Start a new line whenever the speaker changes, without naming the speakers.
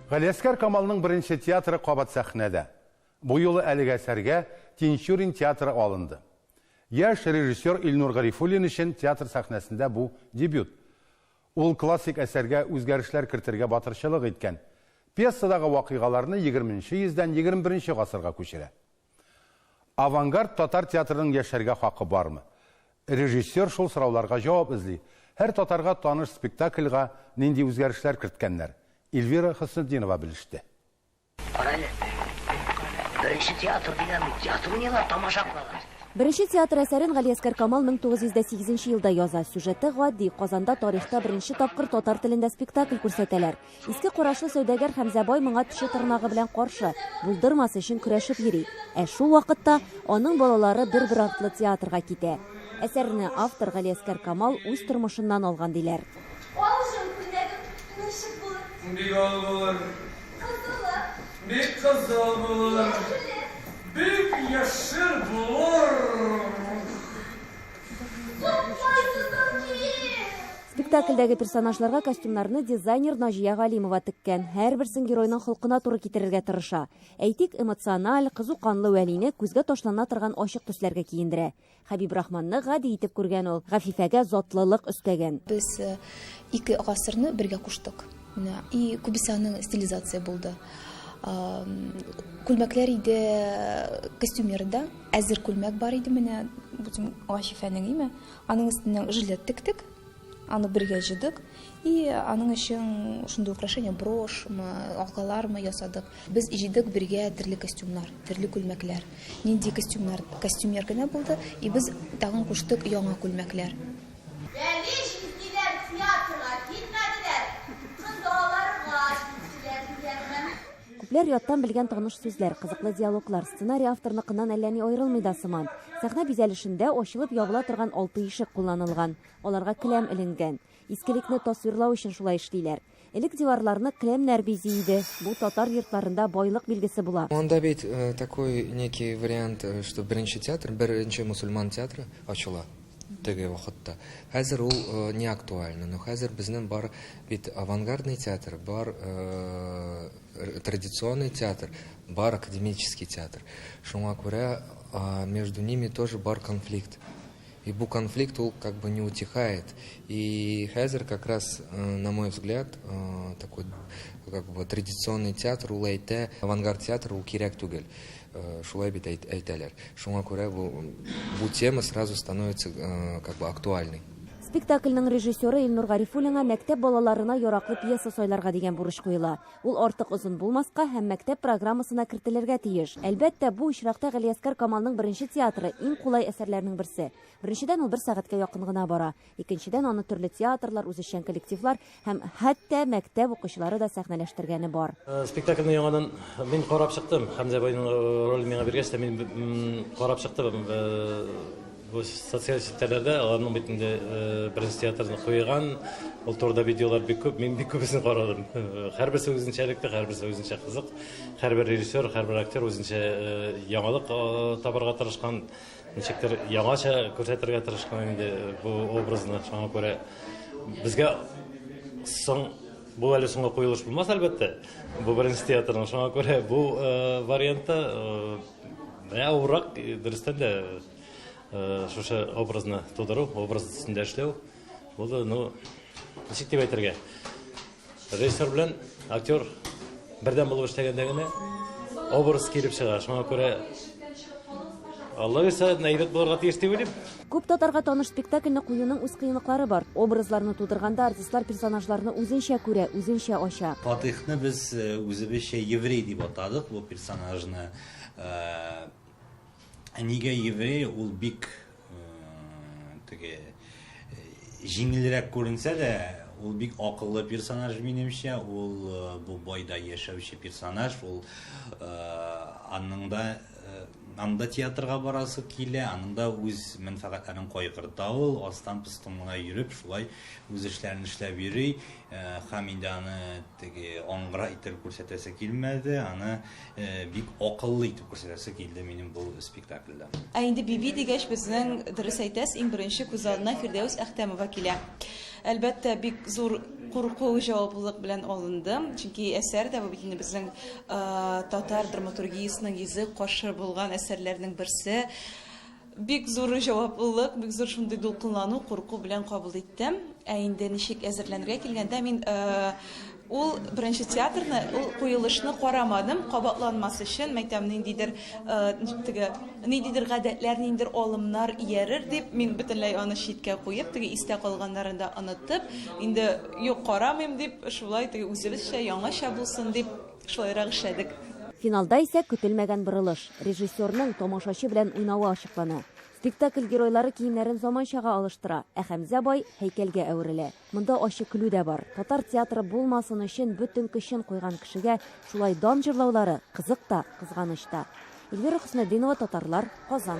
Галиәсгар Камалның беренче театры кабат сәхнәдә. Бу юлы әлеге әсәргә Тинчурин театры алынды. Яшь режиссер Илнур Гарифуллин өчен театр сәхнәсендә бу дебют. Ул классик әсәргә үзгәрешләр кертергә батырчылык иткән. Пьесадагы вакыйгаларны егерменче йөздән егерме беренче гасырга күчерә. Авангард татар театрының яшәргә хакы бармы? Режиссер шул сорауларга җавап эзли. Һәр татарга таныш спектакльга нинди үзгәрешләр керткәннәр? Ильвира Хөснетдинова белеште. Кара әле,
беренче театр дигән театр уйныйлар, тамаша кылалар. Беренче театр
әсәрен Галиәскәр Камал 1908 елда яза. Сюжеты гади, Казанда тарихта беренче тапкыр татар телендә спектакль күрсәтәләр. Иске карашлы сәүдәгәр Хәмзә бай моңа теше-тырнагы белән каршы, булдырмас өчен көрәшеп йөри. Ә шул вакытта аның балалары бер-бер артлы театрга китә. Әсәрне автор Галиәскәр Камал үз тормышыннан алган, диләр. Ал җан, күлмәгең ничек
булыр? Бик ал булыр. Кызылы? Бик кызыл булыр. Яшеле? Бик яшел булыр. Купкай тотар
килеп. Спектакльдәге персонажларга костюмнарны дизайнер Наҗия Галимова теккән. Һәрберсен геройның холкына туры китерергә тырыша. Әйтик, эмоциональ, кызу канлы Вәлине күзгә ташлана торган ачык төсләргә киендерә. Хәбибрахманны гади итеп күргән ул, Гафифәгә затлылык өстәгән. Без
ике гасырны бергә куштык. Менә и күбесе аның стилизация булды. Күлмәкләр иде костюмерда, әзер күлмәк бар иде менә, бу Гафифәнең име, Аның өстеннән жилет тектек, аны бергә җыйдык и аның өчен шундый украшение брошмы, алгалармы ясадык. Без җыйдык бергә төрле костюмнар, төрле күлмәкләр. Нинди костюмнар, костюмер генә булды и без тагын куштык яңа күлмәкләр. Рәвеш иттеләр, театрга килмәделәр,
кыз балалары гашыйк кешеләр дигәнмен. Күпләр яттан белгән таныш сүзләр, кызыклы диалоглар, сценарий авторныкыннан әллә ни аерылмый да сыман. Сәхнә бизәлешендә ачылып-ябыла торган алты ишек кулланылган, аларга келәм эленгән. Искелекне тасвирлау өчен шулай эшлиләр. Элек диварларны келәмнәр бизи иде, бу татар йортларында байлык билгесе була. Анда бит такой
некий вариант, что беренче театр, беренче мусульман театры ачыла. Теге вакытта. Хәзер ул не актуально. Но хәзер безнең бар бит авангардный театр, бар традиционный театр, бар академический театр. Шуңа күрә между ними тоже бар конфликт. И бу конфликт ул как бы не утихает. И хәзер как раз, на мой взгляд, такой как бы традиционный театр ул әйтә, авангард театр ул кирәк түгел. Шулай бит әйтәләр. Шуңа күрә бу бу тема сразу становится как бы актуальный. Спектакльнең
режиссеры Илнур Гарифуллинга мәктәп балаларына яраклы пьеса сайларга дигән бурыч куела. Ул артык озын булмаска һәм мәктәп программасына кертелергә тиеш. Әлбәттә, бу очракта Галиәскар Камалның беренче театры, иң кулай әсәрләрнең берсе. Беренчедән, ул бер сәгатькә якын гына бара. Икенчедән, аны төрле театрлар, үзешчән коллективлар һәм хәтта мәктәп укучылары да сәхнәләштергәне бар. Э, спектакльне яңадан
мин карап чыктым. Хәмзә байның э, ролен миңа биргәч тә мин карап чыктым. Э, бу социаль челтәрләрдә аларның бит инде беренче театрны куйган, ул турыда видеолар бик күп, мин бик күбесен карадым. Һәрберсе үзенчә электе, һәрберсе үзенчә кызык. Һәрбер режиссер, һәрбер актер үзенчә яңалык табарга тырышкан. Ничектер яңача күрсәтергә тырышкан инде бу образны. Шуңа күрә безгә соң бу әле соңгы куелыш булмас, әлбәттә. Бу беренче театрның. Шуңа күрә бу э, вариантта э, авыррак, дөрестән дә, э, шушы образны тудыру, образ өстендә эшләү. Бу да, ну, ничек дип әйтергә? Режиссер белән актер бердәм булып эшләгәндә генә образ килеп чыга. Шуңа күрә Алла бирсә, әйбәт булырга тиеш дип уйлыйм. Күп татарга таныш
спектакльне куюның үз кыенлыклары бар. Образларны тудырганда артистлар персонажларны үзенчә күрә, үзенчә ача. Фатыйхны без э,
үзебезчә еврей дип атадык бу персонажны. Э, Ә нигә еврей ул бик теге җиңелрәк күренсә дә, ул бик акыллы персонаж минемчә, ул бу байда яшәүче персонаж, ул аның да аның да театрга барасы килә, аның да үз мәнфәгатьләрен кайгырта ул, астан-пыстан гына йөреп, шулай үз эшләрен эшләп йөри. Хәм инде аны теге аңгыра иттереп күрсәтәсе килмәде, аны бик акыллы итеп күрсәтәсе килде минем бу спектакльдә. Ә инде Биби
дигәч, безнең, дөрес әйтәс, иң беренче күз алдына Фирдәүс Әхтәмова килә. Әлбәттә, бик зур курку, җаваплылык белән алындым, чөнки әсәр дә бу бит инде безнең татар драматургиясенең йөзе каршы булган әсәрләрнең берсе. Бик зур җаваплылык, бик зур шундый дулкынлану, курку белән кабул иттем. Ә инде ничек әзерләнергә килгәндә, мин ул беренче театрны, ул куелышны карамадым, кабатланмас өчен, мәйтәм, ниндидер теге, ниндидер гадәтләр, ниндидер алымнар иярер дип, мин бөтенләй аны читкә куеп, теге истә калганнарын да онытып, инде юк, карамыйм дип, шулай теге үзебезчә, яңача булсын дип, Шулайрак эшләдек. Финалда исә
көтелмәгән борылыш, режиссерның тамашачы белән уйнавы ачыклана. Спектакль геройлары киемнәрен заманчага алыштыра, ә Хәмзә бай һәйкәлгә әверелә. Монда ачы көлү дә бар. Татар театры булмасын өчен бөтен көчен куйган кешегә шулай дан җырлаулары кызык та, кызганыч та. Эльвира Хөснетдинова, Татарлар, Казан.